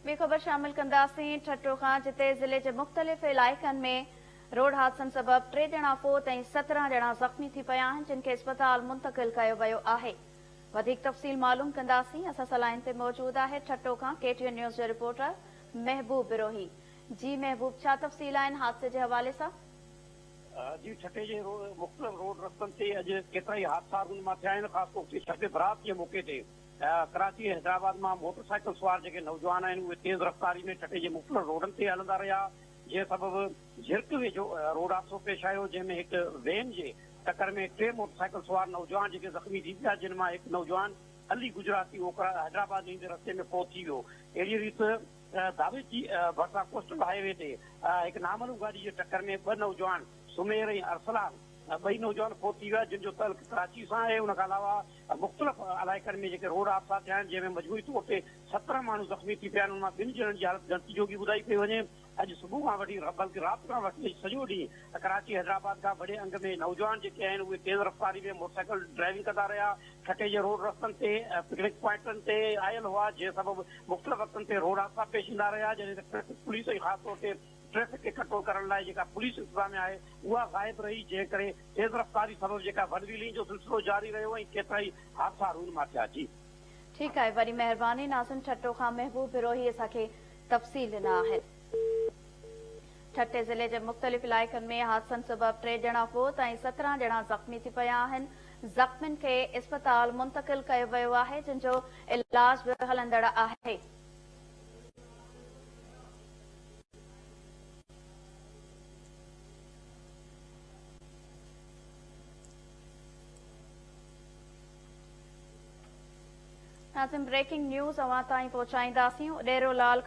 ٻي خبر شامل ڪنداسين ٺٽو کان جتي ضلعي جي مختلف علائقن ۾ روڊ حادثن سبب ٽي ڄڻا فوت ۽ سترهن ڄڻا زخمي ٿي پيا آهن جن کي اسپتال منتقل ڪيو ويو آهي وڌيڪ تفصيل معلوم ڪنداسين اسان سان لائين تي موجود آهي ٺٽو کان ڪي ٽي اين نيوز جو رپورٽر محبوب بروهي جي محبوب ڇا تفصيل آهن حادثي جي حوالي سان جي ٺٽي جي مختلف روڊ رستن تي اڄ ڪيترائي حادثا رونما ٿيا آهن خاص طور تي ڇٽي برات جي موقعي تي ڪراچي ۽ حيدرآباد مان موٽر سائيڪل سوار جيڪي نوجوان آهن اهي تيز رفتاري ۾ ٺٽي جي مختلف روڊن تي هلندا رهيا جنهن سبب جهرڪ ويجهو روڊ حادثو پيش آيو جنهن ۾ هڪ وين جي ٽڪر ۾ ٽي موٽر سائيڪل سوار نوجوان جيڪي زخمي ٿي پيا جن مان هڪ نوجوان علي گجراتي اوڪرا حيدرآباد ويندي رستي ۾ فوت ٿي ويو اهڙي ريت داويچي ڀرسان ڪوسٽل هاء وي تي هڪ نامعلوم گاڏي جي ٽڪر ۾ ٻه نوجوان سمير ۽ ارسلان ٻئي نوجوان فوت ٿي ويا جن جو تعلق ڪراچي سان آهي ان کان علاوه مختلف علائقن ۾ جيڪي روڊ حادثا ٿيا آهن جنهن ۾ مجموعي طور تي سترهن ماڻهو زخمي ٿي پيا آهن ان مان ٻن ڄڻن جي حالت ڳڻتي جوڳي ٻڌائي پئي وڃي اڄ صبح کان وٺي بلڪ رات کان وٺي اڄ سڄو ڏينهن ڪراچي حيدرآباد کان وڏي انگ ۾ نوجوان جيڪي آهن اهي تيز رفتاري ۾ موٽرسائيڪل ڊرائيونگ ڪندا رهيا ٺٽي جي روڊ رستن تي پڪنڪ پوائنٽن تي آيل هئا جنهن سبب مختلف وقتن تي روڊ حادثا پيش ايندا رهيا جڏهن ته ٽريفڪ پوليس ۽ خاص طور تي ٽريفڪ اڪٺو ڪرڻ لاء جيڪا پوليس انتظاميا آهي اها غائب رهي جنهن ڪري تيز رفتاري سبب جيڪا ون ويلنگ جو سلسلو جاري رهيو ۽ ڪيترائي حادثا رونما ٿيا جي. ٺيڪ آهي وڏي مهرباني ناظم ٺٽو کان محبوب بروهي اسان کي تفصيل ڏنا آهن. ٺٽي ضلعي جي مختلف علائقن ۾ حادثن سبب ٽي ڄڻا فوت ۽ سترهن ڄڻا زخمي ٿي پيا آهن زخمين کي اسپتال منتقل ڪيو ويو آهي جن جو علاج به هلندڙ آهي. اسين بريڪنگ نيوز اوهان تائين پهچائينداسين اڏيرو لال کان